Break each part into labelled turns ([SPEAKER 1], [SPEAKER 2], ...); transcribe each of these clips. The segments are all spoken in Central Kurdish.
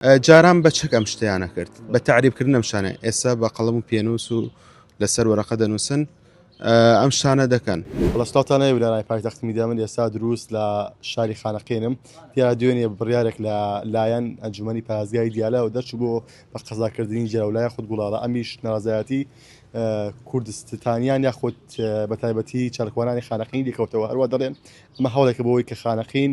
[SPEAKER 1] جاران بە چەک ئەم شتەیان نەکرد بە تعریب کردن ئەم شانە ئێستا بە قەڵم و پێنووس و لەسەر وەرەقە دەنووسن ئەم شانە دەکەن بەڵستاتانە ویلانای
[SPEAKER 2] پایتەخت میدامن ئێستا دروست لە شاری خانەقێنم یا دوێنێ بڕارێک لە لایەن ئەنجومی پازگای دیالە و دەرچ بۆ بە قەزاکردنی جەولای خود گوڵاڵە ئەمیش نازایەتی کوردستانیان یاخود بە تایبەتی چارکوانانی خانەقین دیکەوتەوە هەروە دەڵێن مە هەوڵێکە بۆەوەی کە خانەقین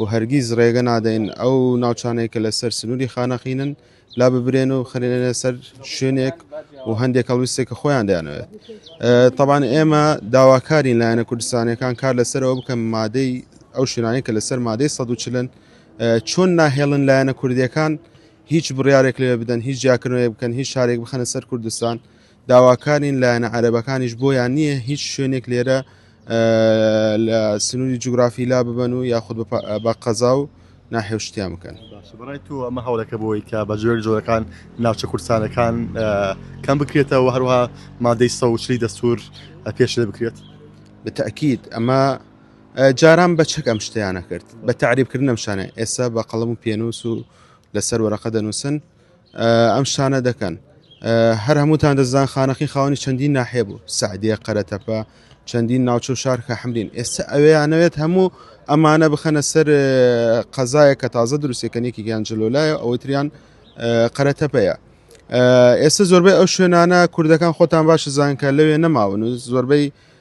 [SPEAKER 1] و هەرگیز ڕێگە نادەین ئەو ناوچانەی کە لەسەر سنووری خانەقینن لا ببرێن و خرێنە سەر شوێنێک و هەندێک هەڵویستێک کە خۆیان دەیانەوێت طبعاان ئێمە داواکارین لایەنە کوردستانەکان کار لەسەرەوە بکەم مادەی ئەو شوێنانی کە لەسەر مادەی 140 چۆن ناهێڵن لایەنە کوردیەکان هیچ بڕارێک لێ بدەن هیچ جیاکردنەوەی بکەن هیچ شارێک بخەنە سەر کوردستان داواکارین لایەنە عەرەبەکانیش بۆیان نییە هیچ شوێنێک لێرە لە سنووری جوگرافی لا ببن و یاخود بە قەزا و ناحێوشتیان بکەن بەڕای تو ئەمە
[SPEAKER 2] هەوڵەکە بۆی کە بە جۆر جۆرەکان ناوچە کورسانەکان کەم بکرێتەوە هەروها مادەی سەوچلی دەستور پێش لێ بکرێت بەتەکیید
[SPEAKER 1] ئەمە جاران بە چەک ئەم شتیانە کرد بە تعریبکردنم شانە ئێستا بە قەڵم و پێنووس و لەسەر وەرەقە دەنووسن ئەم شتانە دەکەن هەر هەمووتان دەزان خانەقی خاوەنی چەندین ناحێ بوو سعدیە قەرەتەپە چەندین ناوچە و شارکە حمرین ئێستا ئەوەیانەوێت هەموو ئەمانە بخەنە سەر قەزایە کە تازە دروستەکەنێکی گیانجلۆلایە ئەوەی تریان قەرەتەپەیە ئێستا زۆربەی ئەو شوێنانە کوردەکان خۆتان باش زانکە لەوێ نەماون و زۆربەی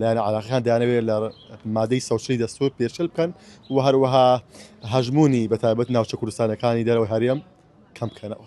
[SPEAKER 2] لایەنە عێراقیەکان دەیانەوێت لە مادەی سەوچەی دەستور پێشل بکەن و هەروەها هەژمونی بە تایبەت ناوچە کوردستانەکانی دەرەوەی هەرێم کەم بکەنەوە.